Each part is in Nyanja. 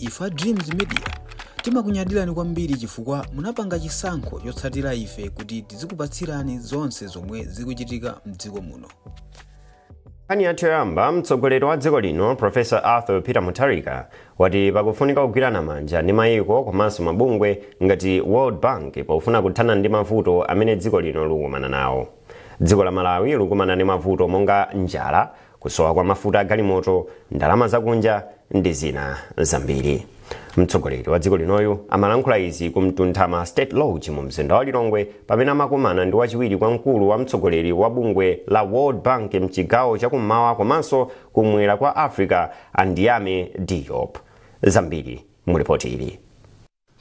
Ife a Dreams Media timakunyadirani kwambiri chifukwa munapanga chisankho chotsatira ife kuti tizikupatsirani zonse zomwe zikuchitika mdziko muno. nkhani yathu yoyamba mtsogoleri wa dziko lino professor arthur peter mutharika wati pakufunika kugwirana manja ndi mayiko komanso mabungwe ngati world bank pofuna kuthana ndi mavuto amene dziko lino likukumana nawo dziko la malawi likukumana ndi mavuto monga njala kusowa kwa mafuta a galimoto ndalama zakunja ndi zina zambiri mtsogoleri wa dziko linoyu amalankhula izi ku mtunthama state lodge mu mzinda wa lilongwe pamene amakumana ndi wachiwiri kwa mkulu wa mtsogoleri wa bungwe la world bank mchigawo chakummawa komanso kummwera kwa africa a ndiame diop zambiri mu lipoti ili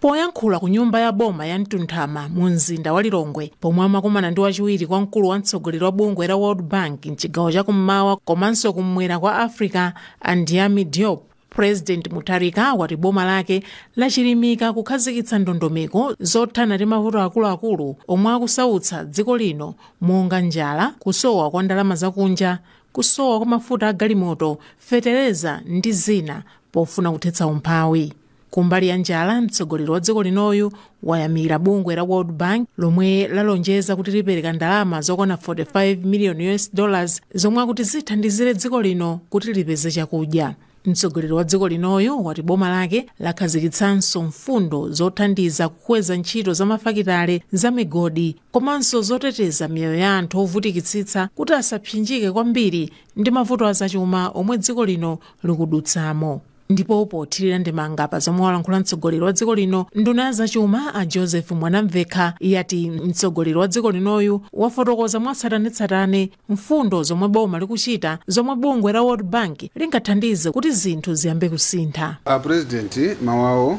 Poyankhula ku nyumba ya boma ya Mtunthama mu mzinda wa Lilongwe pomwe amakumana ndi wachiwiri kwa mkulu wa mtsogoleri wa bungwe la World Bank mchigawo cha kummawa komanso kummwera kwa Africa a Ndiame Diop, President Mutharika wati boma lake lachilimika kukhazikitsa ndondomeko zothana ndi mavuto akuluakulu omwe akusautsa dziko lino monga njala, kusowa kwa ndalama zakunja, kusowa kwa mafuta a galimoto, fetereza ndi zina pofuna kuthetsa umphawi. Kumbali ya njala, mtsogoleri wa dziko linoyu wayamira bungwe la World Bank lomwe lalonjeza kuti lipereka ndalama zokwana 45 miliyoni US dollars zomwe akuti zithandizire dziko lino kuti lipeze chakudya. Mtsogoleri wa dziko linoyu wati boma lake lakhazikitsanso mfundo zothandiza kukweza ntchito za mafakitale, za migodi komanso zoteteza miyoyo ya anthu ovutikitsitsa kuti asapsinjike kwambiri ndi mavuto azachuma omwe dziko lino likudutsamo. Ndipo pothirira ndemanga pa zomwe walankhula mtsogoleri wa dziko lino, nduna ya zachuma a Joseph Mwanamvekha yati mtsogoleri wa dziko linoyu wafotokoza mwatsatanetsatane mfundo zomwe boma likuchita zomwe bungwe la World Bank lingathandize kuti zinthu ziyambe kusintha. A President mawu awo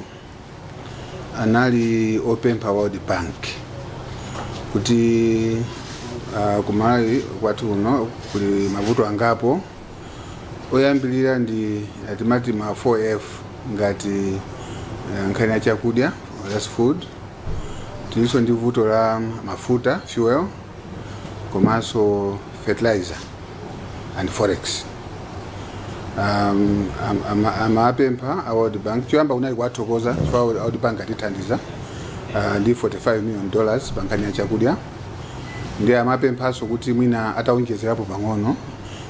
anali opempha World Bank kuti uh, kumalawi kwathu kuno kuli mavuto angapo oyambirira ndi eh, timati ma 4f ngati eh, nkhani ya chakudya that's food tilinso ndi vuto la mafuta fuel komanso fertilizer and forex um, am- ama- amapempha a world bank choyamba kunali kuwathokoza chifukwa world bank atithandiza uh, ndi 45 million dollars pa nkhani ya chakudya ndiye amapemphanso kuti mwina atawonjezerapo pang'ono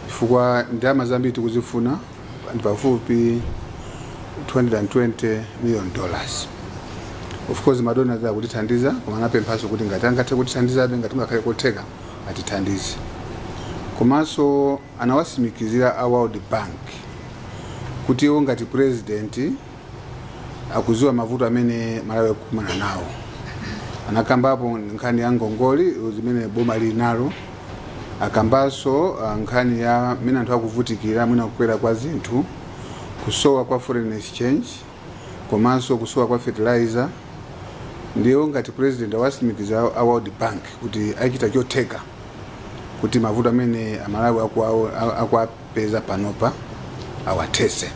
chifukwa ndalama zambiri tikuzifuna ndi pafupi 220 million dollars of course madona ena akutithandiza koma anapemphanso kuti ngati angathe kutithandizabe ngati kungakhale kotheka atithandize komanso anawasimikizira a world bank kuti iwo ngati president akuziwa mavuto amene malawi akukumana nawo anakambapo nkhani ya ngongole zimene boma lili nalo akambanso ah, nkhani ya mmene mwina anthu akuvutikira mwina kukwera kwa zinthu kusowa kwa foreign exchange komanso kusowa kwa fertilizer ndiyo ngati president awasimikiza a world bank kuti achita chotheka kuti mavuto amene amalawi akuwawo- a- akwa- peza panopa awathese.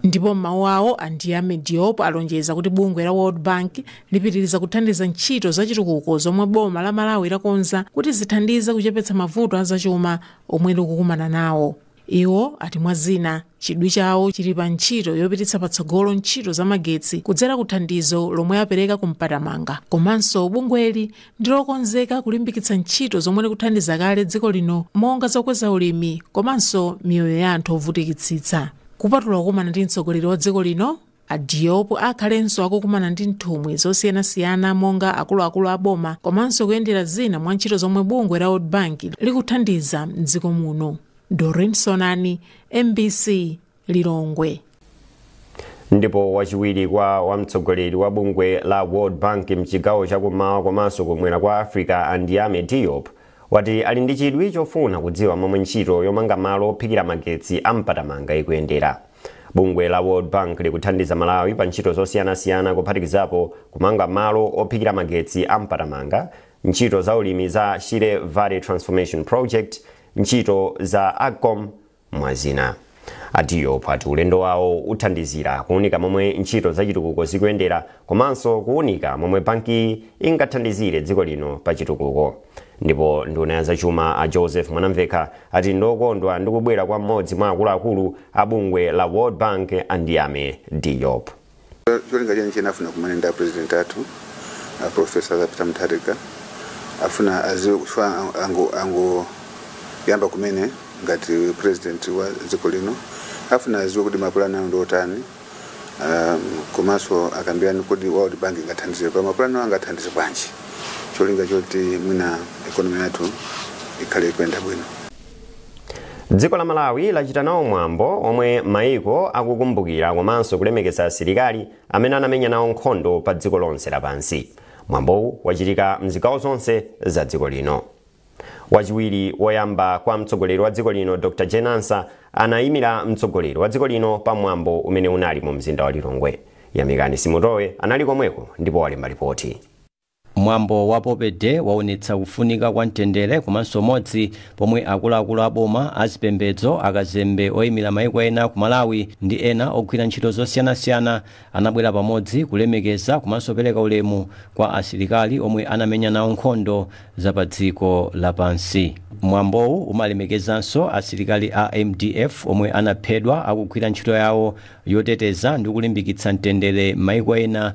Ndipo m'mawu awo, a Ndiame Diop alonjeza kuti bungwe la World Bank lipitiriza kuthandiza ntchito za chitukuko zomwe boma la Malawi lakonza kuti zithandize kuchepetsa mavuto a zachuma omwe likukumana nawo. Iwo ati mwa zina, chidwi chawo chili pa ntchito yopititsa patsogolo ntchito za magetsi kudzera ku thandizo lomwe apereka ku Mpatamanga komanso bungweli ndi lokonzeka kulimbikitsa ntchito zomwe likuthandiza kale dziko lino monga zokweza ulimi komanso miyoyo ya anthu ovutikitsitsa kupatula kukumana ndi mtsogoleri wa dziko lino a diop akhalenso akukumana ndi nthumwi zosiyanasiyana monga akuluakulu a boma komanso kuyendera zina mwa ntchito zomwe bungwe la world bank likuthandiza mdziko muno doreen sonani mbc lilongwe ndipo wachiwiri kwa wamtsogoleri wa bungwe la world bank mchigawo chakummawa komanso kumwera kwa africa a ndiame diop wati ali ndi chidwi chofuna kudziwa momwe ntchito yomanga malo ophikira magetsi a mpatamanga ikuyendera bungwe la world bank likuthandiza malawi pa ntchito zosiyanasiyana kuphatikizapo kumanga malo ophikira magetsi a mpatamanga ntchito za ulimi za shire valley transformation project ntchito za agcom mwazina. A Diop ati ulendo wawo uthandizira kuunika momwe ntchito zachitukuko zikuyendera komanso kuunika momwe bankiyi ingathandizire dziko lino pa chitukuko. Ndipo nduna ya zachuma a Joseph Mwanamvekha ati ndokondwa ndi kubwera kwa mmodzi mwa akuluakulu a bungwe la World Bank a Ndiame Diop. Cholinga cheni cheni afuna kumana ndi apresident athu a professor Peter Mutharika afuna aziwe kufa ango ango yamba kumene ngati president wa dziko lino afuna aziwe kuti mapulani awo ndi otani um, komanso akambirane kuti World Bank ingathandize pa mapulani awo angathandize bwanji cholinga choti mwina economy yathu ikhale ikuyenda bwino Dziko la Malawi lachita nawo mwambo omwe maiko akukumbukira komanso kulemekeza asilikali amene anamenya nawo nkhondo pa dziko lonse lapansi. Mwambowu wachitika mzigawo zonse za dziko lino. Wachiwiri woyamba kwa mtsogoleri wa dziko lino Dr Jane Ansah anayimira mtsogoleri wa dziko lino pa mwambo umene unali mu mzinda wa Lilongwe. Yamikani Simutowe anali komweko ndipo walemba lipoti. Mwambo wa Poppy Day waonetsa kufunika kwa mtendere komanso umodzi pomwe akuluakulu a boma, a zipembedzo, akazembe oimira maiko ena ku Malawi ndi ena ogwira ntchito zosiyanasiyana anabwera pamodzi kulemekeza komanso pereka ulemu kwa asilikali omwe anamenya nawo nkhondo za padziko lapansi. Mwambowu umalemekezanso asilikali a mdf omwe anaphedwa akugwira ntchito yawo yoteteza ndi kulimbikitsa mtendere m'maiko ena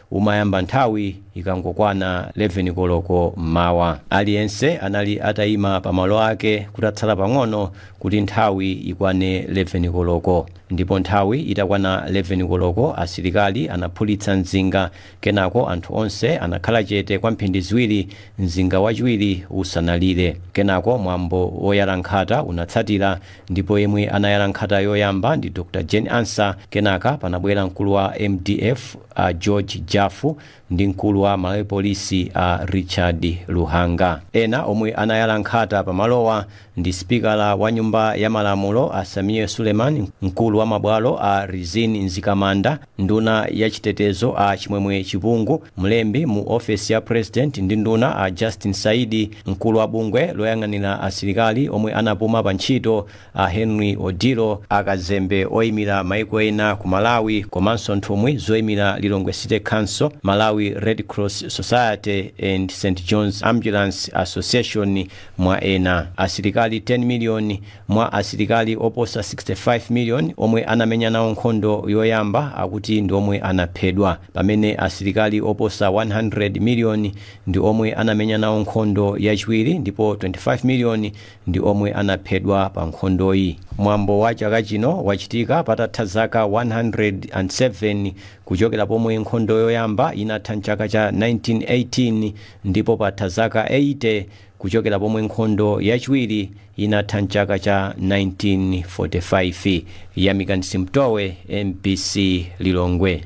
umayamba nthawi ikangokwana 11 koloko m'mawa. Aliyense anali ataima pamalo ake kutatsala pang'ono kuti nthawi ikwane 11 koloko. Ndipo nthawi itakwana 11 koloko asilikali anaphulitsa mzinga, kenako anthu onse anakhala chete kwa mphindi ziwiri mzinga wachiwiri usanalire. Kenako mwambo woyala nkhata unatsatira ndipo yemwe anayala nkhata yoyamba ndi Dr. Jane Ansah, kenaka panabwera mkulu wa mdf, a George Jaffu ndi mkulu wa Malawi Police a Richard Luhanga. Ena omwe anayala nkhata pa malowa ndi sipikara wa nyumba ya malamulo a Sameer Suleman, mkulu wa mabwalo a Rizine Mzikamanda, nduna ya chitetezo a Chimwemwe Chipungu, mlembi mu ofesi ya president ndi nduna a Justin Saidi, mkulu wa bungwe loyang'anira asilikali omwe anapuma pa ntchito a Henry Odillo, akazembe oimira maiko ena ku Malawi komanso nthumwi zoimira Lilongwe City Council, Malawi Red Cross Society and St John's Ambulance Association mwa ena. Asilikali 10 miliyoni mwa asilikali oposa 65 miliyoni omwe anamenya nawo nkhondo yoyamba akuti ndi omwe anaphedwa, pamene asilikali oposa 100 miliyoni ndi omwe anamenya nawo nkhondo yachiwiri ndipo 25 miliyoni ndi omwe anaphedwa pa nkhondoyi. Mwambo wa chaka chino wachitika patatha zaka 107 kuchokera pomwe nkhondo yoyamba inatha m'chaka cha 1918 ndipo patha zaka 80 kuchokera pomwe nkhondo yachiwiri inatha m'chaka cha 1945. Yamikani Simutowe, mbc Lilongwe.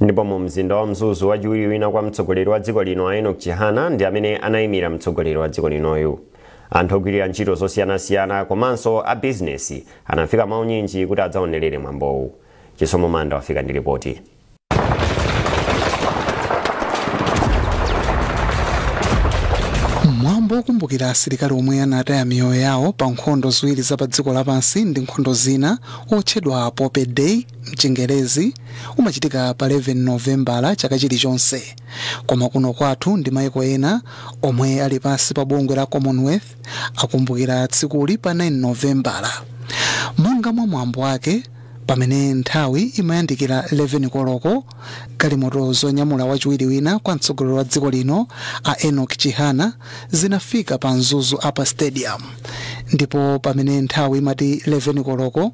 ndipo mu mzinda wa mzuzu wachiwiri wina kwa mtsogoleri wa dziko lino a enoch chihana ndi amene anayimira mtsogoleri wa dziko linoyu anthu ogwirira ntchito zosiyanasiyana komanso a bizinesi anafika mwaunyinji kuti adzaonerere mwambowu chisomo manda wafika ndi ripoti mwambo wokumbukira asilikali omwe anataya miyoyo yawo pa nkhondo ziwiri za pa dziko lapansi ndi nkhondo zina wotchedwa poppy day m'Chingelezi umachitika pa 11 Novembala chaka chilichonse. Koma kuno kwathu ndi maiko ena omwe ali pansi pa bungwe la Commonwealth akumbukira tsikuli pa 9 Novembala. Monga mwa mwambo wake, pamene nthawi imayandikira 11 koloko, galimoto zonyamula wachiwiri wina kwa mtsogoleri wa dziko lino a Enoch Chihana zinafika pa Mzuzu Upper Stadium ndipo pamene nthawi imati 11 koloko,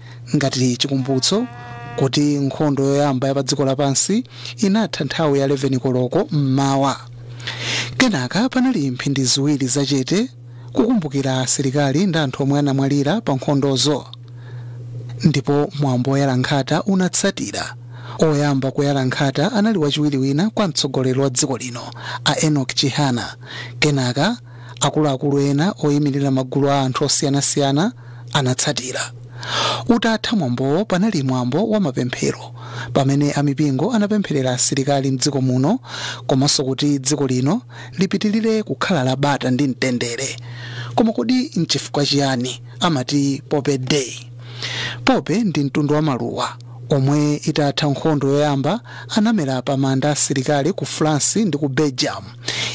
ngati chikumbutso kuti nkhondo yoyamba ya padziko lapansi inatha nthawi ya 11 koloko m'mawa. Kenaka panali mphindi ziwiri zachete kukumbukira asilikali ndi anthu omwe anamwalira pa nkhondozo. Ndipo mwambo woyala nkhata unatsatira. Oyamba kuyala nkhata anali wachiwiri wina kwa mtsogoleri wa dziko lino, a Enoch Chihana. Kenaka akuluakulu ena oyimirira magulu a anthu osiyanasiyana anatsatira. Utatha mwambowo panali mwambo wa mapemphero pamene a mipingo anapempherera asilikali m'dziko muno komanso kuti dziko lino lipitirire kukhala la bata ndi mtendere. Koma kodi n'chifukwa chiyani amati Poppy Day? Poppy ndi mtundu wa maluwa omwe itatha nkhondo yoyamba anamera pa manda a asilikali ku France ndi ku Belgium.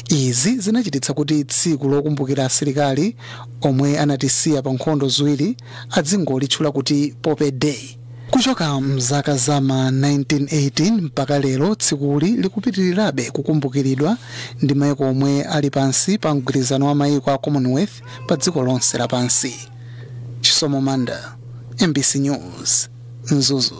Izi zinachititsa kuti tsiku lokumbukira asilikali omwe anatisiya pa nkhondo ziwiri adzingolitchula kuti Poppy Day. Kuchoka m'zaka za ma 1918 mpaka lero, tsikuli likupitirirabe kukumbukiridwa ndi mayiko omwe ali pansi pa mgwirizano wa mayiko a Commonwealth padziko lonse lapansi. Chisomo Manda, MBC News. mzuzu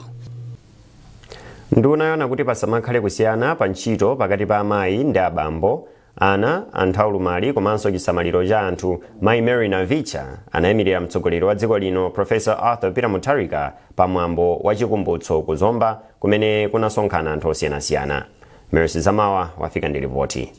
nduna yoona kuti pasamakhale kusiyana pa ntchito pakati pa amayi ndi abambo ana anthu aulumali komanso chisamaliro cha anthu mayi mary navicha anayimirira mtsogoleri wa dziko lino profesa arthur peter mutharika pa mwambo wa chikumbutso ku zomba kumene kunasonkhana anthu osiyanasiyana mercy zamawa wafika ndi ripoti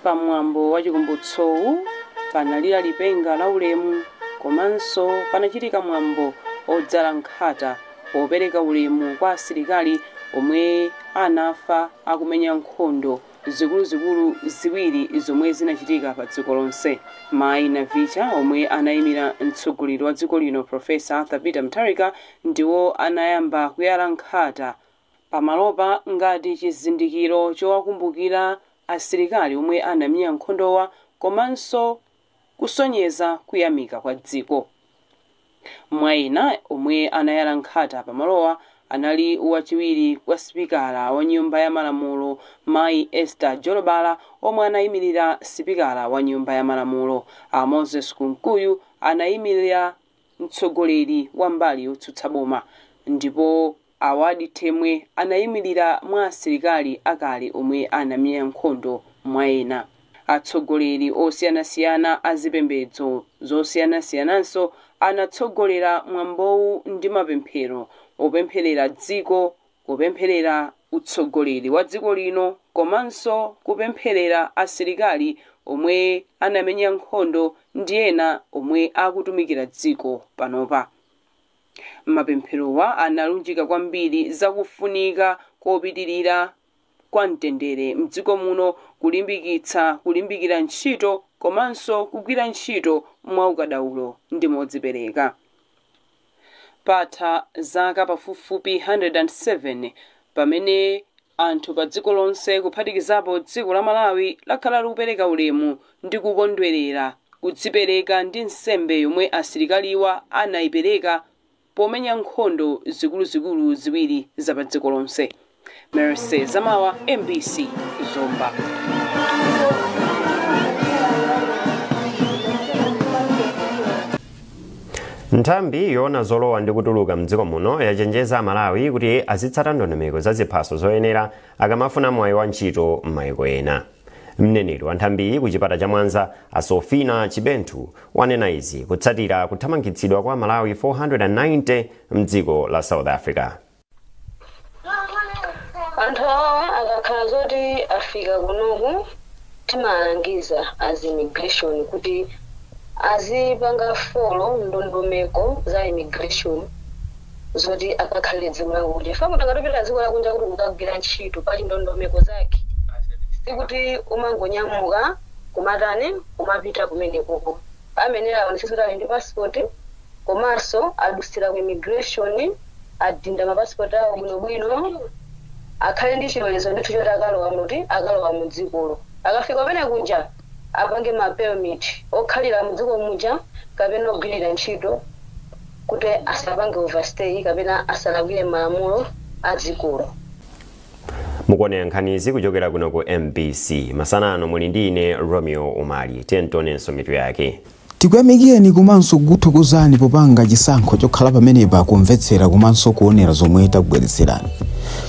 Pamwambo wa Chikumbutsowu panalira lipenga laulemu komanso panachitika mwambo odzala nkhata popereka ulemu kwa asilikali omwe anafa akumenya nkhondo zikuluzikulu ziwiri zomwe zinachitika pa dziko lonse. Mayi Navicha omwe anayimira mtsogoleri wa dziko lino Professor Arthur Peter Mutharika Ndiwo anayamba kuyala nkhata pamalopa ngati chizindikiro chowakumbukira asilikali omwe anamenya nkhondowa komanso kusonyeza kuyamika kwa dziko. Mwa ena omwe anayala nkhata pamalowa anali wachiwiri kwa sipikala wa nyumba ya malamulo mayi Esther Jolobala omwe anayimilira sipikala wa nyumba ya malamulo a Moses Kunkuyu anayimilira mtsogoleri wa mbali yotsutsa boma, ndipo Awadi Temwe anaimilira mwa asilikali akale omwe anamenya nkhondo mwa ena. Atsogoleri osiyanasiyana a zipembedzo zosiyanasiyananso anatsogolera mwambowu ndi mapemphero opemphelera dziko kupemphelera utsogoleri wa dziko lino komanso kupemphelera asilikali omwe anamenya nkhondo ndi ena omwe akutumikira dziko panopa. Mapempherowa analunjika kwambiri za kufunika kopitilira kwa mtendere m'dziko muno kulimbikitsa kulimbikira ntchito komanso kugwira ntchito mwaukadaulo ndi modzipereka. Patha zaka pafupifupi 107 pamene anthu padziko lonse kuphatikizapo dziko la Malawi lakhala likupereka ulemu ndi kukondwerera kudzipereka ndi nsembe yomwe asilikaliwa anaipereka pomenya nkhondo zikuluzikulu ziwiri za padziko lonse. Mercy Zamawa, mbc, Zomba. nthambi yoona zolowa ndi kutuluka mdziko muno yachenjeza amalawi kuti azitsata ndondomeko za ziphaso zoyenera akamafuna mwayi wa ntchito m'mayiko ena Mneneri wa nthambiyi ku chipata cha Mwanza, a Sofina Chibenthu, wanena izi kutsatira kuthamangitsidwa kwa Amalawi 490 m'dziko la South Africa. anthu awa akakhala zoti afika kunoku timalangiza as immigration kuti azipanga folo ndondomeko za immigration zoti akakhale dziko lakunja chifukwa munthu akati apita dziko lakunja kuti kukagwira ntchito pali ndondomeko zake sikuti umangonyamuka kumatani kumapita kumenekoko ayenera aonetsetse kuti ali ndi passport komanso adutsira ku immigration adinda mapasipoti awo bwinobwino akhale ndi chilolezo ndithu choti akalowa muti akalowa mu dzikolo akafika kumene kuja apange ma permit okhalira mdziko muja kapena ogwirira ntchito kuti asapange overstay kapena asalakwire malamulo a dzikolo. Mukuonera nkhanizi kuchokera kuno ku mbc. Masana ano muli ndi ine Romeo Umali. Tiyeni tionenso mitu yake. Tikuyamikireni komanso kukuthokozani popanga chisankho chokhala pamenepa kumvetsera komanso kuonera zomwe takubweretserani.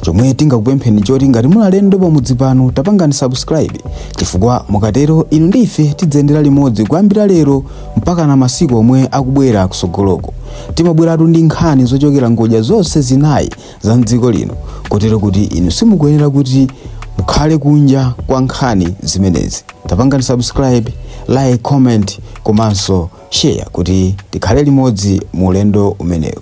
Chomwe tingakupempheni n'choti ngati muli alendo pamudzi pano tapangani subscribe chifukwa mukatero inu ndi ife tidziyendera limodzi kuyambira lero mpakana masiku omwe akubwera kutsogoloku. Timabweratu ndi nkhani zochokera ngodya zonse zinayi za mdziko lino kotero kuti inu simukuyenera kuti mukhale kunja kwa nkhani zimenezi tapangani subscribe like comment komanso share kuti tikhale limodzi mu ulendo umenewu